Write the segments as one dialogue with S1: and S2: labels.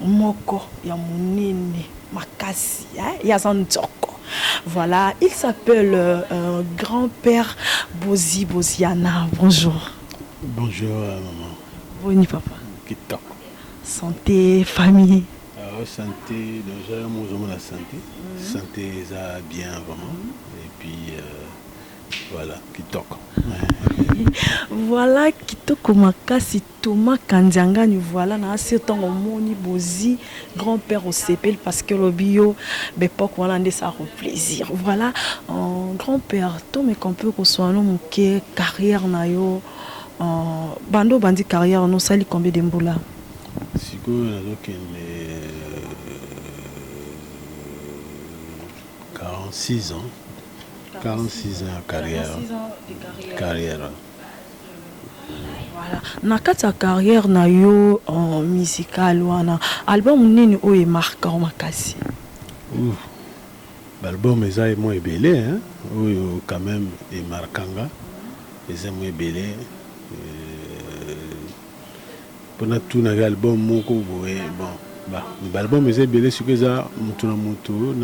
S1: moko ya munene makasi hein ya za nzoko voilà il s'appelle euh, grand père Bozi Boziana bonjour bonjour
S2: euh, maman boni papa
S1: kitoko
S2: santé
S1: famille alors ah, santé
S2: donc j'ai mon la santé mm -hmm. santé eza bien vraiment et puis euh, voilà kitoko voilà
S1: kitoko makasi Thomas kandiangani voila na asi tango omoni bozi grand père osepeli parce que lobi yo bepoque wana nde sa ko plaisir voila euh, grand père to me compare kosuano moke carrière na yo euh, bando bandi carrière no sali combien de mbula sikoyo
S2: nazokende 46 euh, ans 46 ans ya carrière carrière
S1: Voilà na kati ya carrière na yo musicale wana album nini oyo e marqua yo makasi? Ouf
S2: ba album eza mwa ebele hein oyo quand meme e marqua nga eza mwa ebele po na tuna yo album moko boye bon ba album eza ebele sikoyo eza mutu na mutu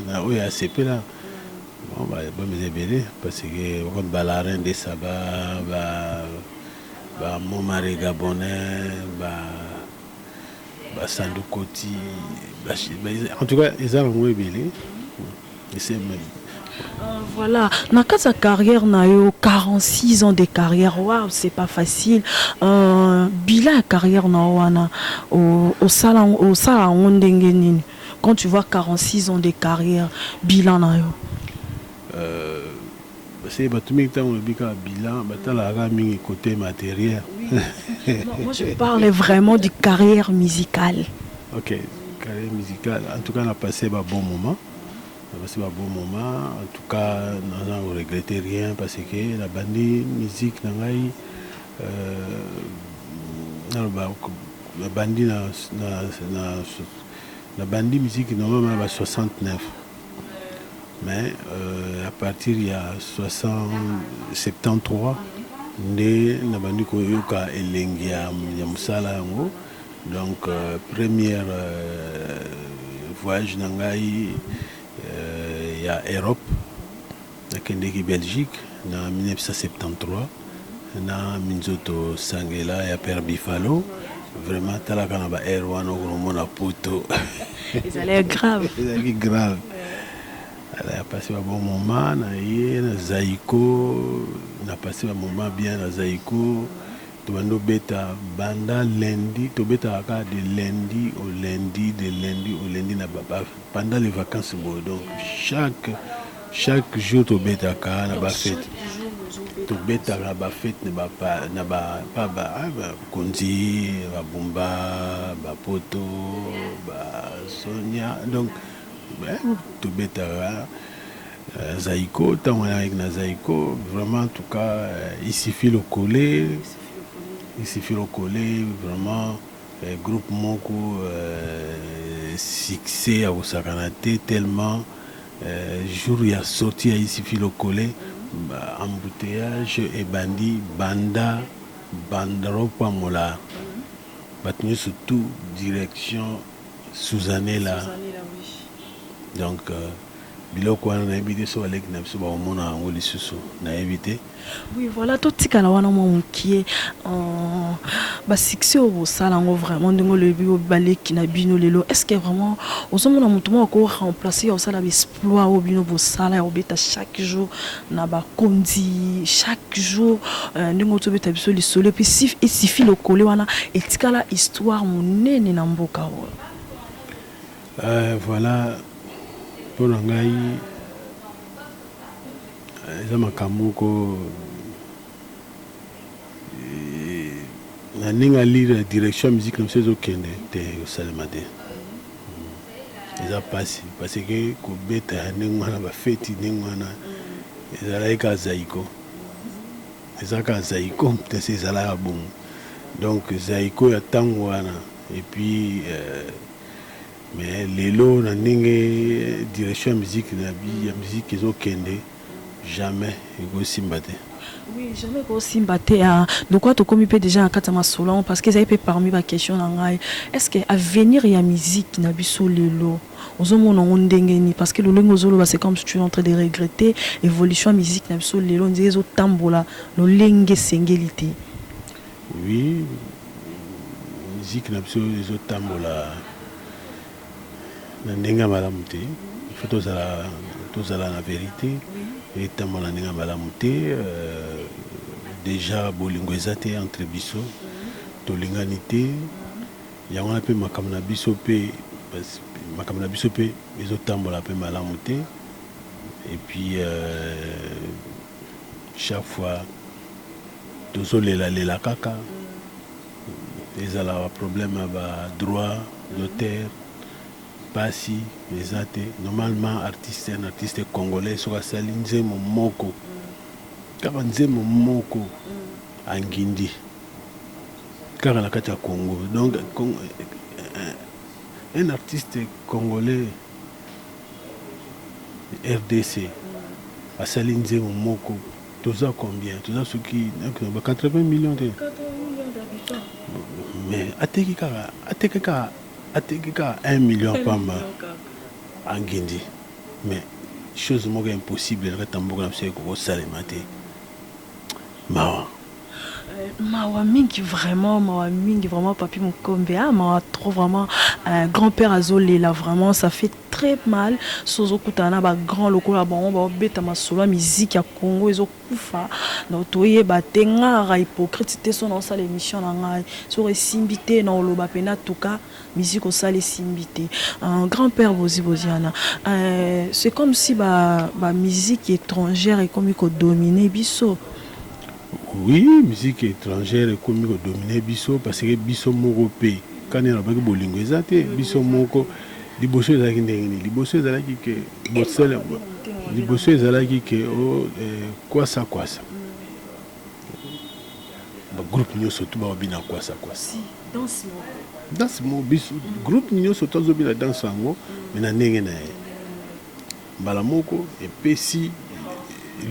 S2: na oyo asepela Bon ba album eza ebele parce que comme ba la reine de saba ba ba momare gabonais ba ba sandu koti ba, ba, en tout cas eza nango ebele ese même Euh, voilà
S1: na kati ya carrière na yo 46 ans de carrière waw c'est pas facile euh, bila ya carrière na yo wana osala yango ndenge nini quand tu vois 46 ans de carrière bilan na yo
S2: Basi bato mingi ntango olobi kaka bilan batalaka kaka mingi cote materiel. Moi
S1: je parle vraiment de carrière musicale. Ok,
S2: carrière musicale en tout cas na passe ba bon moment na passe ba bon moment en tout cas naza ko regretter rien parce que na bandi musique na ngai euh, naloba na bandi na, na, na Na bandi miziki na nga na ba 69 mais euh, à partir ya 73 nde na bandi koyoka elengi ya, ya mosala yango donc euh, première euh, voyage na ngai euh, ya Europe Nakendeki Belgique na 1973 na minzoto sangela ya Père Bifalo. Vraiment talaka na ba heure wana okomona poto. Ezalaki
S1: grave. Ezalaki grave.
S2: Elle a passé un bon moment na ye na Zaiko, na passé un moment bien na Zaiko. tobandi obeta banda lundi tobetaka kaka de lundi au lundi de lundi au lundi na baba Pendant les vacances boye donc chaque chaque jour tobetaka na ba fete tobetaka ba fete na ba pa- na ba pa ba ah, ba konzi ba bumba ba poto ba sonia donc eh, tobetaka euh, zaiko ntango wana ayaki na zaiko vraiment en tout cas euh, isifi lokole isifi lokole vraiment Groupe moko succès ya kosakana te tellement jour ya sortie ya Isifi Lokole embouteillage ebandi banda banda o pamola batu nionso tout direction Suzanella donc Biloko wana nayebi te soki ba leki na biso bako mona yango lisusu nayebi te. Oui voilà to
S1: tikala wana mwa mukie euh, ba succès oyo bosala yango vraiment ndenge olobi ba leki na bino lelo est ce que vraiment ozo mona mutu moko ko remplacer ya kosala ba exploit oyo bino bosala ya kobeta chaque jour na ba konzi chaque jour euh, ndenge ozo beta biso lisolo puis si il suffit lokole wana etikala histoire monene na mboka oyo Eh, voilà
S2: mpo na ngai eh, eza makambo moko eh, na ndenge alire na direction ya miziki na biso ezokende te esalema te hmm. eza mpasi parce ke kobeta ya ndenge wana bafeti ndenge wana ezalaki kaka zaiko eza kaka zaiko mpesi ezalaka bongo donc zaiko ya ntango wana epuis euh, mais lelo na ndenge direction ya musique na bi ya musique ezokende jamais ekosimba te Oui, jamais
S1: ekosimba te ah. lokola tokomi mpe deja na kati ya masolo yango parce que ezali mpe parmi baquestion na ngai est ce que avenir ya musique na biso lelo ozomona yango ndenge nini parce que lolenge ozoloba c'est comme si tu es en train de regretter évolution ya musique na biso lelo nzela ezotambola lolenge esengeli te Oui
S2: musique na biso ezo tambola na ndenge ya malamu te il faut tozala tozala na verite etambola ndenge ya malamu te euh, deja bolingo eza te entre biso tolingani te yango wana mpe makambo na biso mpe makambo na biso mpe ezotambola mpe malamu te et puis euh, chaque fois Tozo lela lela kaka ezala ba problème ya ba droit d'auteur pasi eza te normalement artiste un artiste congolais soki asali nzembo moko kaka nzembo moko angindi kaka na kati ya Congo donc un artiste congolais rdc asali nzembo moko Toza combien toza soki nakina ba 80 millions te 80 millions d'habitants mais ateki kaka ateki kaka ateki kaka 1 million pamba angindi mais chose moko impossible na kati ya mboka na biso ekoki kosalema te mawa
S1: mawa mingi vraiment mawa mingi vraiment papi mokombe ah, mawa trop vraiment euh, grand père azolela vraiment ça fait très mal sozo kutana na ba grand lokola bango baobeta masolo ya miziki ya congo ezokufa donc toyeba te ngaka hypocrite te so naosala émission na ngai soko esimbi te na oloba mpena tuka miziki osala esimbi te euh, grand père bozi boziana euh, c'est comme si ba, ba musique étrangère ekomi kodomine biso Oui
S2: musique etrangère ekomi ko dominer biso parce que biso moko pe kani alobaki bolingo eza te biso moko liboso ezalaki ndenge nini liboso ezalaki ke bosele liboso ezalaki ke o oh, eh, kwasa kwasa ba groupe nyonso tu baobina kwasa kwasa danse mo biso groupe nyonso tozobina danse yango me na ndenge na ye mbala moko epesi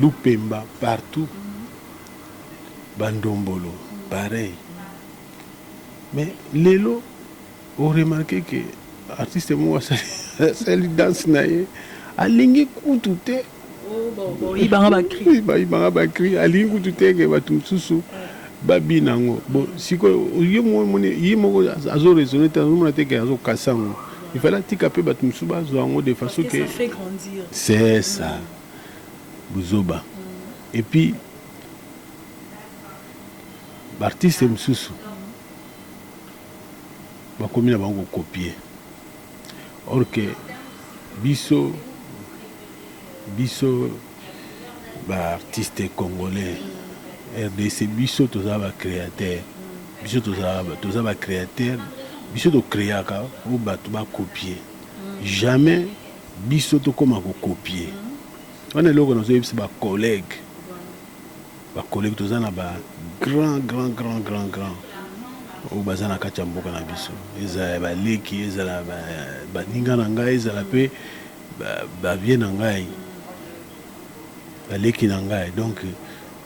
S2: lupemba partout ba ndombolo pareil mais lelo o remarquer que artiste moko asali danse na ye alingi kutu te oh, bayibanga bakri alingi kutu te ke bato mosusu Ba bina yango bon sikoyo yo moko omoni ye moko azo raisonner te azomona te ke azo casser yango il fallait atika pe batu mosusu bazwa yango de façon ke
S1: c'est ça
S2: buzoba et puis ba artistes mosusu bakomi na bango ko copier or ke biso biso ba artistes congolais rdc biso toza ba createur biso toza ba createur biso to creaka oyo bato ba copier jamais biso tokoma ko copier wana eloko nazoyebisa ba collègue ba collègue toza na ba grand grand grand grand grand oyo baza na kati ya mboka na biso ezala ya baleki ezala baninga na ngai ezala mpe Ba vieux na ngai, ba leki na ngai donc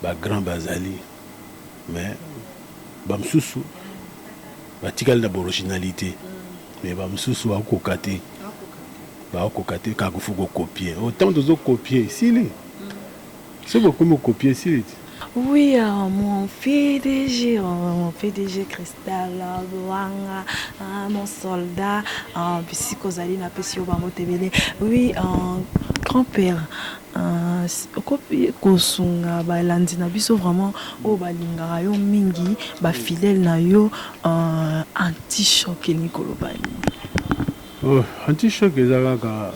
S2: ba grands bazali mais ba mosusu ba tikali na ba originalite mais ba mosusu ba koka te, ba koka te kaka il faut ko copier. Autant tozo copier esili. soki okomi okopie esiliti Oui, euh,
S1: mon PDG, euh, mon PDG Cristal, euh, Boanga, euh, mon soldat, euh, bisika ozali na pesi yo bango tebele. Oui, euh, grand-père, euh, s- okoki kosunga balandi na biso vraiment oyo balingaka yo mingi, bafidèle na yo euh, anti-choc elingi koloba nini?
S2: Oh anti choc eza kaka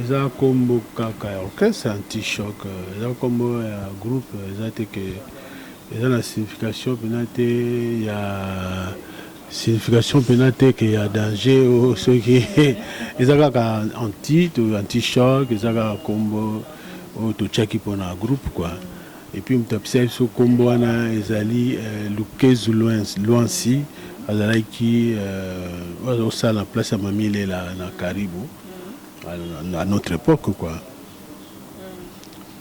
S2: eza kombo kaka ya orchestre anti choc eza kombo ya groupe eza te ke eza na signification pena te ya signification pena te ke ya danger o oh, soki eza kaka anti to anti choc eza kaka kombo oyo oh, totyaki mpona groupe quoi Et puis moto apesaki biso kombo wana ezali Lukezu Luansi azalaki osala na place ya Mamie Lela na Karibu à notre époque quoi.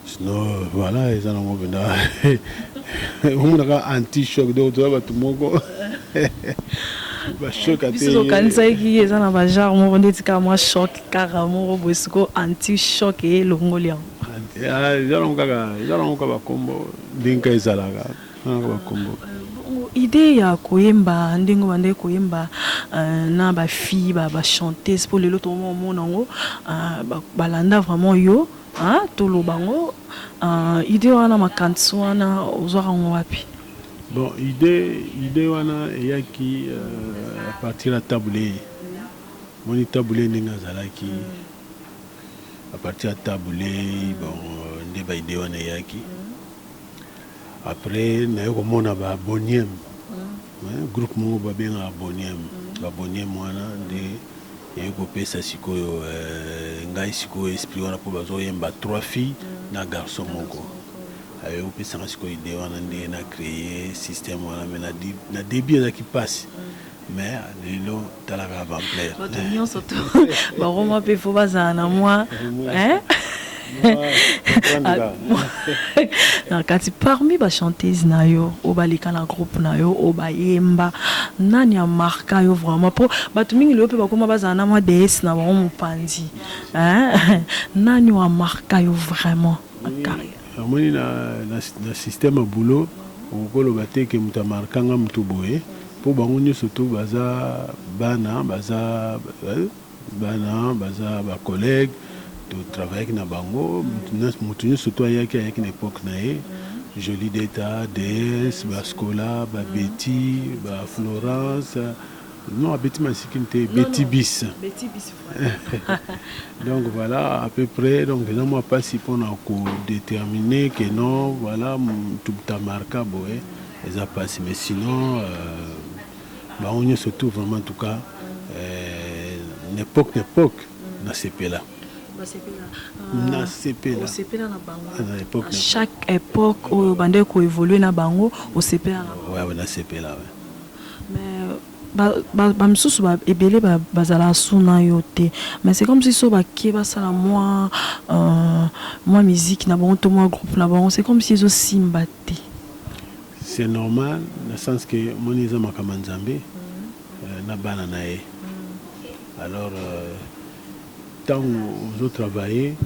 S2: Sinon voilà eza nango benda omonaka anti choc donc toza bato moko biso okanisaki
S1: eza na bagenre moko ndeti kaka mwa choc kaka moko boye sikoyo anti choc eye elongoli yango eza nango
S2: kaka eza nango kaka bakombo ndenge kaka ezalaka eza nango bakombo idée
S1: ya koyemba ndenge obandaki koyemba euh, na bafille bachanteuse mpo lelo tomona yango euh, balanda vraiment yo toloba yango euh, idée wana makanisi wana ozwaka yango wapi bon idée
S2: idée wana eyaki à partir ya tabule moni tabule ndenge azalaki mm. A partir ya Tabu Ley bon nde ba idee wana eyaki. Après naye komona ba Boniem groupe moko babengaka Boniem ba Boniem wana nde eye kopesa sikoyo ngai sikoyo esprit wana mpo bazoyemba trois filles na garçon moko aye kopesanga sikoyo idee wana nde na cree système wana me na debut ezalaki mpasi mais lelo tala kaka bampleur bato nyonso to
S1: baroma mpe fo bazala na mwa na kati parmi bachantese na yo oyo baleka na groupe na yo oyo bayemba nani amarka yo vraiment mpo bato mingi leyo mpe bakoma bazala na mwa dees na bango mopanzi nani oyo amarka yo vraiment na carrière Omoni
S2: na na système ya boulot okoki koloba te que moto a marqua nga moto boye po bango nioso tout baza bana baza bana baza ba collègues to travaillaki na bango moto nioso tout ayaki ayaki na epoque na ye Jolideta, Deesse, ba Scola, ba Betty, ba Florence. Non, abeti masikini te, beti bis. Beti bis Donc voilà, à peu près, donc eza mwa pasi mpo na kodetermine que non, voilà, tubuta marka boye, eza pasi. Mais sinon, euh, bango nyonso tout vraiment, en tout cas, euh, n'époque n'époque, nasepela. Basepela. Ah, nasepela. Osepela na bango. Ah, na époque, à chaque époque,
S1: oyo bandeko évoluer na bango, osepela na bango. Ouais, ouais, nasepela,
S2: ouais. Mais
S1: ba misusu ebele bazalaka sous na yo te mais c'est comme si soki bake basala mua musique na bango to mua groupe na bango c'est comme si ezo simba te.
S2: C'est normal na sens que omoni eza makambo ya Nzambe na bana na ye alors tango ozo travailler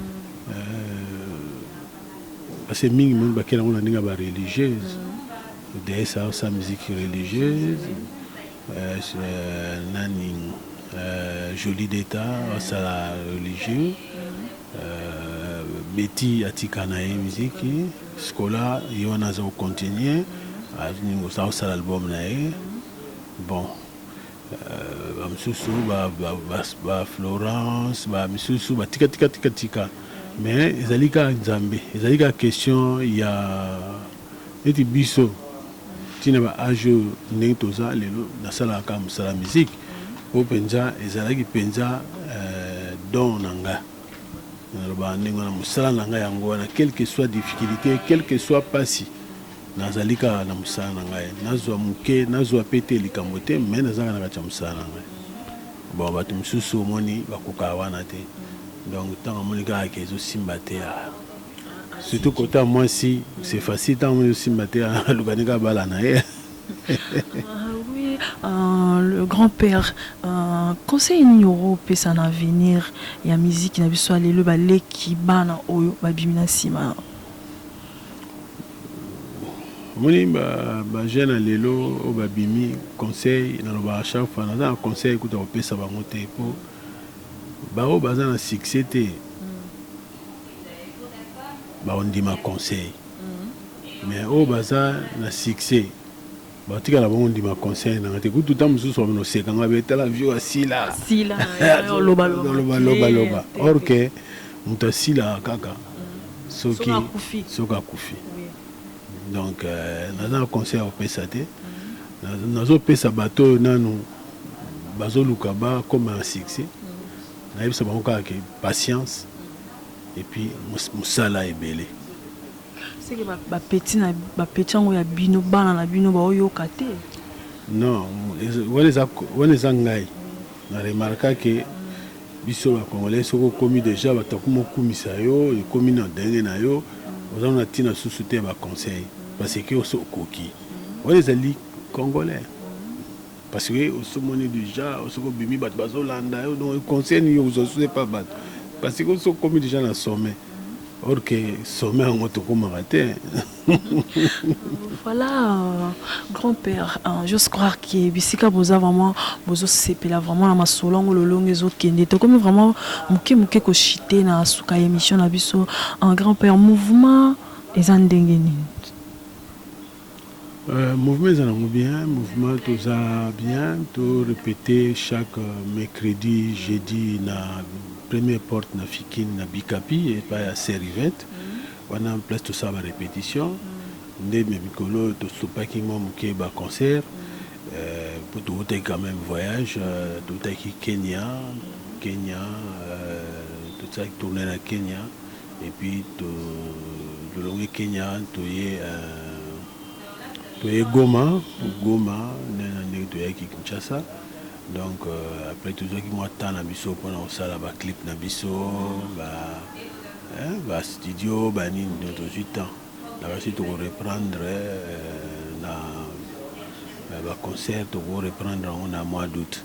S2: parce que mingi bakeli yango na ndenge ya ba religieuse Déesse Hausa musique religieuse euh, euh, nani euh, Jolie d'État asala religieux euh, Betty atika na ye miziki Scola ye wana aza kocontinue aza kosala album na ye bon euh, bamosusu ba, ba, ba, ba Florence bamisusu batikatikatika mais ezali kaka Nzambe ezali kaka question ya Neti biso ti na ba age oyo ndenge toza lelo nasalaka kaka musala musique po penza ezalaki penza don na nga nalobaka ndenge wana musala na nga yango wana quelque soit difficulite quelque soit pasi nazali kaka na musala na ngai nazua muke nazua pe te likambo te mais naza kaka na kati ya musala na ngai bon batu misusu omoni bakokaka wana te donc tango amoni kaka ke ezo simba te Surtout cote ya mwasi c'est facile tango ozo simba te aluka ndenge abala na ye. Euh,
S1: le grand père euh, conseil nini okopesa na avenir ya miziki na biso ya lelo baleki bana oyo babimi na nsima
S2: omoni bajeune ya lelo oyo babimi conseil nalobaka chaque fois naza na conseil kuta kopesa bango te mpo baoyo baza na succès te baondima conseil mais oyo baza na succès batika na bango ndima conseil nanga te kutu ntango mosusu bamino oseka ngai betala vio asila
S1: lobalobaloba
S2: or ke moto asilaka kaka soki soki akufi donc euh, naza na conseil ya kopesa te nazopesa bato oyo nanu bazoluka bakoma na succès Nayebisa bango kaka ke patience et puis musala ebele. Seke
S1: ba, ba petit na ba petit yango ya bino bana na bino baoyoka te? Non,
S2: wana eza wana eza ngai na remarka ke biso ba congolais soki okomi deja bato akoma okumisa yo ekomi na ndenge na yo oza na ntina susu te ya ba conseil parce que oso okoki wana ezali congolais Parce que osi omoni deja soki obimi bato bazolanda yo donc conseil nini ozozwa epa bato parce que soki okomi deja na sommet or que sommet yango tokomaka te voilà
S1: euh, grand père hein, j'ose croire que bisika boza vraiment bozosepela vraiment na masolo yango lolongo ezokende tokomi vraiment moke moke koshite na suka ya émission na biso en grand père mouvement eza ndenge nini
S2: Mouvement eza nango bien mouvement toza bien to repete chaque mercredi jeudi na première porte na fikini na bikapi epa ya sœur Yvette wana place tosala ba repetition nde me mikolo oyo tosopaki mwa moke ba concert mpo towutaki quand même voyage towutaki Kenya Kenya tosalaki tourne na Kenya Et puis to longwe Kenya toye euh, toye Goma Goma nde na ndenge toyaki Kinshasa donc euh, après tozwaki mwa temps na biso mpona kosala ba clip na biso ba eh, ba studio ba nini donc tozwi temps na basi toko reprendre euh, na ba concert toko reprendre yango na mois d'août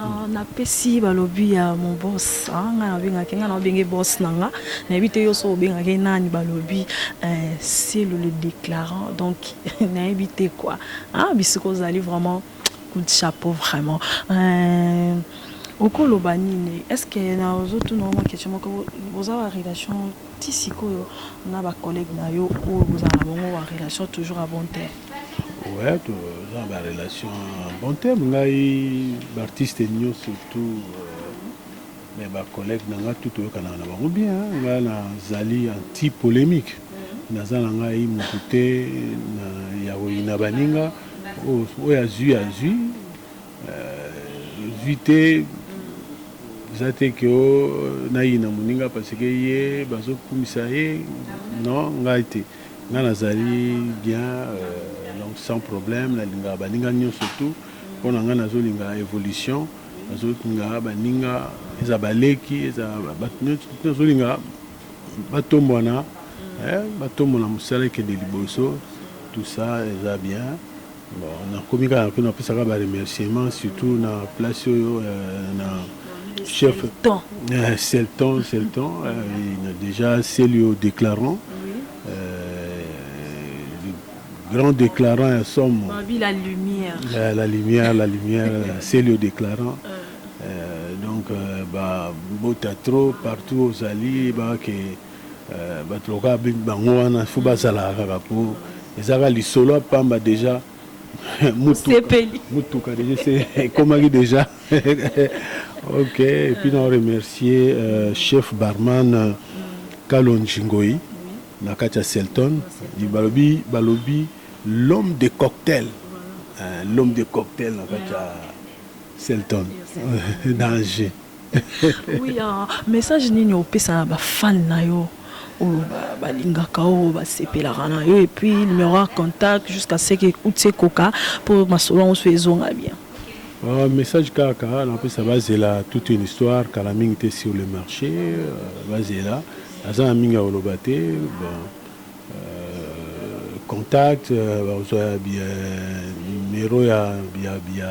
S1: Ah, napesi balobi ya mobos ah, ngai nabengaki ngai naobenge bos na nga nayebi te yo so obengaki nani balobi eh, selo le déclarant donc nayebi te kua ah, bisika ozali vraiment coup de chapeau vraiment eh, okoloba nini estce nazotuna yo makestion moko boza ba relation ti sikoyo na bacollègue na yo oyo bozala na bango ba relation toujours a bon terme Ouais,
S2: toza na barelation bon terme ngai baartiste nio surtout me euh, bacollègue na ngai tu toyokanaka na bango bien ngai nazali anti polémique naza na ngai motu te ya koyina baninga oyo azwi azwi zwi te eza te ke nayina moninga parce ke ye bazokumisa ye non ngai te nga nazali bien euh, donc sans problème nalingaka baninga nyonso tout mpo na nga nazolinga évolution nazolinga baninga eza baleki eza bato nyonso nazolinga batombwana eh, batombwana mosala ekende liboso tout ça eza bien Bon na komi kaka kuna na pesa kaka ba remerciement surtout na place oyo euh, na chef temps euh, c'est le temps c'est le temps euh, na déjà c'est le déclarant euh, le grand déclarant ya somo Babi la lumière
S1: euh, la lumière
S2: la lumière c'est le déclarant euh, donc euh, ba bota trop partout ozali ba ke Euh, bato lokola bango wana fo bazalaka kaka mpo ezaka lisolo ya pamba deja mutuka deja se ekomaki deja ok epuis na remercier euh, chef barman euh, kalonji ngoi na kati ya selton balobi balobi l'homme de cocktail l'homme de cocktail na kati ya selton danger
S1: Oui, ah, message nini opesa na ba fan na yo oyo ba- balingaka yo basepelaka na yo et puis numéro ya contact jusqu'à ce que uti ekoka mpo masolo yango so ezonga bien Ah, message
S2: kaka napesa bazela toute une histoire kala mingi te sur le marché euh, bazela aza na mingi ya koloba te bon, euh, contact euh, bakozwa ya bi- ya numero ya, ya, ya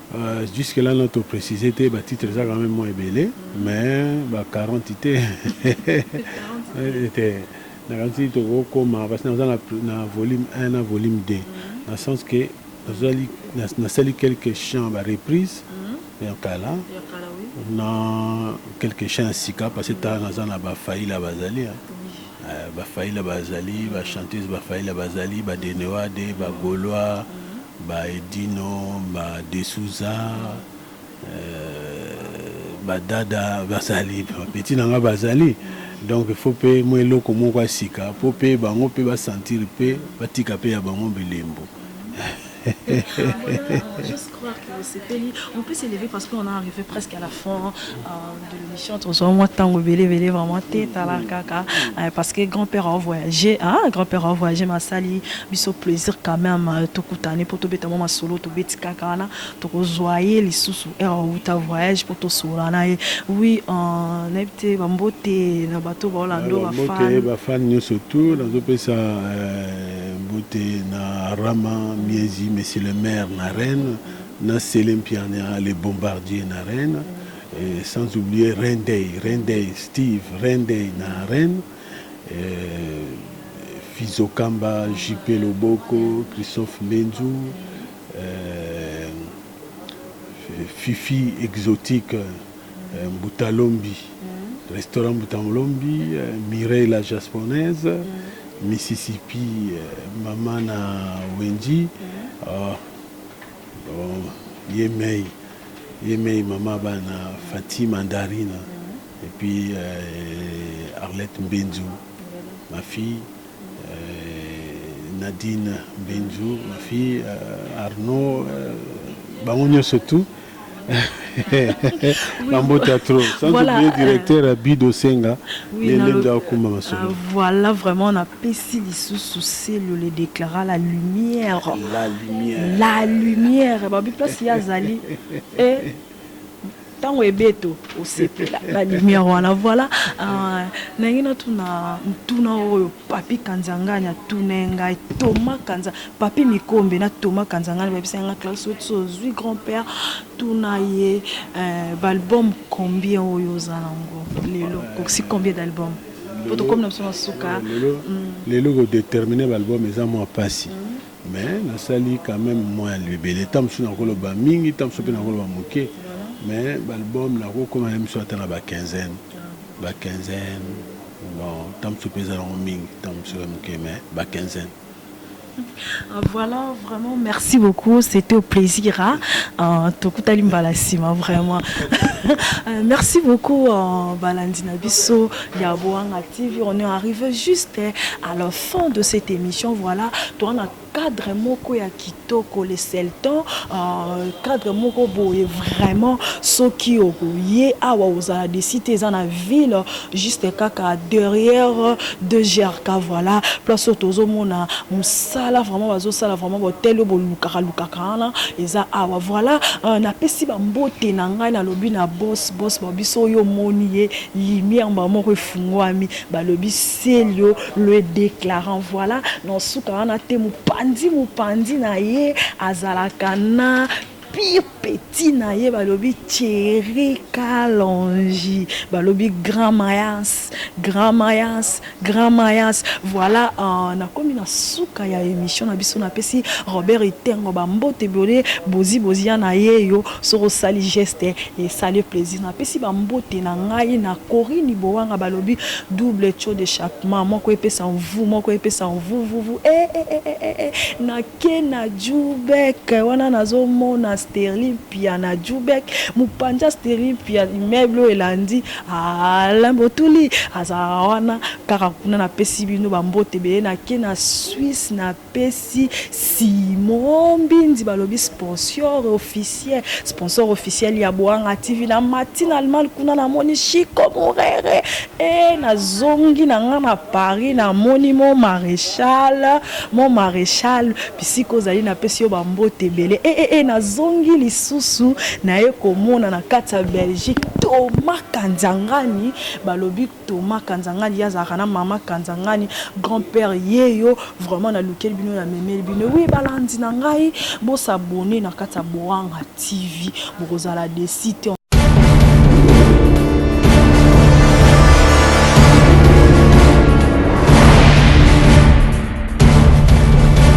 S1: Euh, jusque
S2: là notre précisé te ba titre eza quand même moins ebele mais ba 40 te te nakanisi tokokoma parce naza na volume 1 na volume 2 na sens que nazali nasali quelques chants ba reprise mhm. ya kala na quelques chants ya sika parce que tala naza na bafaila bazali euh, bafaila bazali bachanteuse bafaila bazali badenewade bagolois mm -hmm. Ba Edino, ba De Souza, euh, ba Dada bazali, ba petit na nga bazali. Donc faut pe mwa eloko moko ya sika po pe bango pe ba sentir pe batika pe ya bango bilembo. Juste
S1: croire que vous sepeli. On peut s'élever parce qu'on a arrivé presque à la fin. Euh... de l'émission tozwa mwa ntango ebele ebele vraiment te tala kaka euh, parce que grand père a voyagé hein? grand père a voyagé masali biso plaisir quand même euh, tokutane mpo tobeta mwa masolo tobeti kaka wana tokozwa ye lisusu ere awuta voyage mpo tosolola na ye oui euh, nayebi te bambote na bato baolando bafan bafan nyonso
S2: tout nazopesa mbote na rama miezi monsieur le maire na reine na sele mpiania le bombardier na reine mm. Et sans oublier Reine Day, Reine Day, Steve, Reine Day na Reine, euh, Fizo Kamba, JP Loboko, Christophe Mbenzu, euh, Fifi Exotique, euh, Mbutalombi, restaurant Mbutalombi, euh, Mireille la Japonaise, Mississippi, euh, Mama na Wendy, euh, Oh ye mei ye mei mama bana Fatih Mandarina et puis euh, Arlette Mbenzu ma fille euh, Nadine Mbenzu ma fille euh, Arnaud euh, bango nyonso tout
S1: bambote ya trop sans voilà, oublier euh, directeur euh,
S2: bido senga oui, lelendo akumba masolo euh,
S1: voilà vraiment na pesi lisusu selo le déclara la lumière la lumière la lumière babi place ya azali et ntango ebeto osepela la lumière wana voilà euh, nangi natuna ntuna oyo Papy Kanzangani atunai ngai Thomas Kanza Papy Mikombe na Thomas Kanzangani bayebisaki ngai Clarisse soki so ozwi grand père tuna ye eh, baalbum combien oyo oza nango lelo okokisi combien d'album mpo tokomi na biso na suka lelo
S2: kodetermine baalbum eza mwa mpasi mais nasali quand même mwa ebele ntango mosusu nakoloba mingi ntango mosusu mpe nakoloba moke mais baalbum nakokoma na miso ata na ba quinzaine ba quinzaine Bon, temps mosusu mpe ezalango mingi, temps mosusu ya moke, mais ba quinzaine. Ah, voilà,
S1: vraiment, merci beaucoup. C'était au plaisir. Hein? Euh, Tokutali mbala sima, vraiment. Euh, merci beaucoup, euh, Balandina Bisso, Yaboanga TV. On est arrivé juste hein, à la fin de cette émission. Voilà, toi, on a cadre moko ya kitoko le selton uh, cadre moko boye vraiment soki okoye awa ozala desi te eza na ville juste kaka derrière de grk voilà place oyo tozomona mosala vraiment bazosala vraiment botel oyo bolukaka lukaka wana eza awa voilà uh, napesi bambote na ngai nalobi na bos bos babiso oyo omoni ye lumière mba moko efungwami balobi selio le declarant voila na suka wana te mupanzi mupanzi na ye azalaka na pire petit na ye balobi Thierry Kalonji balobi grand mayas grand mayas grand mayas voilà uh, nakomi na suka ya emission na biso napesi Robert Itengo bambote bole bozi bozi ya na ye yo Soki osali geste esali plaisir na pesi ba mbote na ngai na Corine Bowanga balobi double taux d'echappement moko epesa mvuu moko epesa mvuvuvu eh eh eh eh eh na ke na Djoubek wana nazo mona Sterling Pia na Djoubek mupanja Sterling Pia immeuble oyo elandi Alain Botuli aza wana kaka kuna na pesi bino ba mbote ebele na ke na Suisse na pesi Simon mbinzi balobi sponsor officiel sponsor officiel ya Boanga TV na mati na Allemagne kuna na moni Chico Murere eh na zongi na nga na Paris na moni mon maréchal mon maréchal bisika ozali na pesi yo ba mbote ebele eh eh, eh na zongi lisusu na ye komona na kati ya Belgique Thomas Kanzangani balobi Thomas kanzangani ye azalaka na mama kanzangani grand père yeyo vraiment na lukeli bino na memeli bino oui balandi na ngai bo s'abonner na kati ya boanga tv bokozala desi te